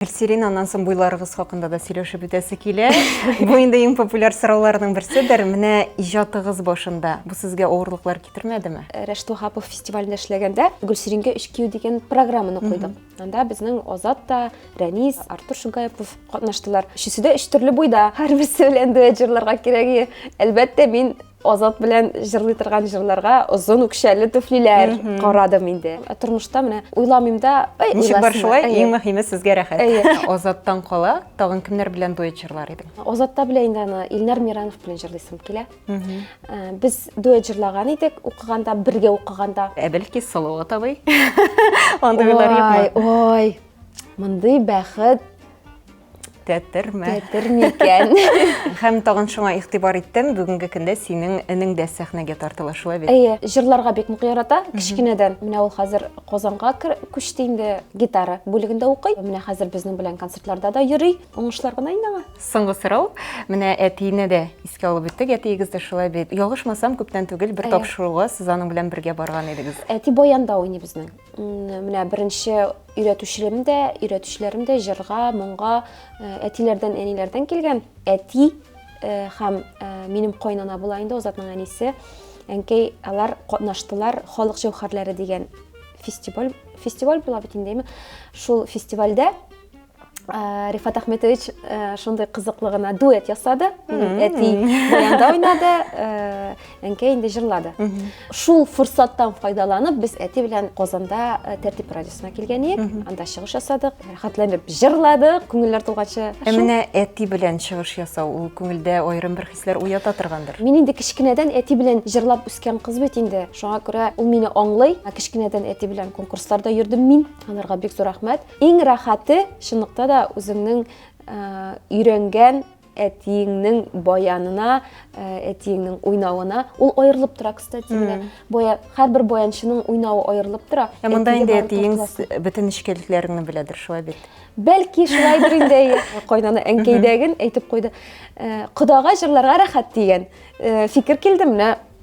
Гөлсирин, аннан соң буйларыгыз хакында да сөйләшеп үтәсе килә. Бу инде иң популяр сорауларның берседер. Менә иҗатыгыз башында бу сезгә авырлыклар китермәдеме? Э, Рәшит Вахапов фестивалендә эшләгәндә Гөлсиринге өч кию дигән программаны куйдык. Анда безнең Азат та, Рәнис, Артур Шугаепов катнаштылар. Өчесе дә өч төрле буйда. Һәрберсе белән дуэт җырларга кирәк. Әлбәттә, мин Азат белән җырлый торган җырларга озын үкчәле түфлиләр карадым инде. Ә Тормышта менә уйламыйм да, ай, Ничек бар шулай, Әйе. иң мөһиме сезгә рәхәт. Әйе. Азаттан кала, тагын кемнәр белән дуэт җырлар идең? Азатта белә инде аны Илнар Миранов белән җырлыйсым килә. Ә, Без дуэт җырлаган идек, укыганда, бергә укыганда. Ә бәлки Салават атабый? Андыйлар юкмы? Ой, ой, мондый бәхет тәтерме тәтерме икән һәм тагын шуңа игътибар иттем бүгенге көндә синең энең дә сәхнәгә тартыла шулай бит әйе җырларга бик нык ярата кечкенәдән менә ул хәзер казанга күчте инде гитара бүлегендә укый менә хәзер безнең белән концертларда да йөри уңышлар гына инде аңа соңгы сорау менә әтине дә искә алып үттек әтиегез дә шулай бит ялгышмасам күптән түгел бер тапшыруга сез аның белән бергә барган идегез әти баянда уйный безнең Менә беренче өйрәтүчеләрем дә, өйрәтүчеләрем дә җырга, моңга әтиләрдән, әниләрдән килгән. Әти һәм минем кайнана була инде Азатның әнисе. Әнкәй алар катнаштылар Халык җәүһәрләре дигән фестиваль фестиваль була бит инде, Шул фестивальдә Э, рифат ахметович э, шундай кызыклы гына дуэт ясады әти баянда уйнады э, әнкәй инде җырлады шул форсаттан файдаланып без әти белән казанда тәртип радиосына килгән идек анда чыгыш ясадык рәхәтләнеп җырладык күңелләр тулганчы ә менә әти белән чыгыш ясау ул күңелдә аерым бер хисләр уята торгандыр мин инде кечкенәдән әти белән җырлап үскән кыз бит инде шуңа күрә ул мине аңлый кечкенәдән әти белән конкурсларда йөрдем мин аларга бик зур рәхмәт Иң рәхәте, чынлыкта да, үзеңнең өйрәнгән әтиеңнең баянына, әтиеңнең уйнавына. Ул аерылып тора, кстати, менә. Бая, һәрбер баянчының уйнавы аерылып тора. Ә монда инде әтиең бөтен нечкәлекләреңне беләдер, шулай бит? Бәлки, шулайдыр инде, әйе. Кайнана әнкәйдәген әйтеп куйды. Кодага җырларга рәхәт дигән фикер килде, менә.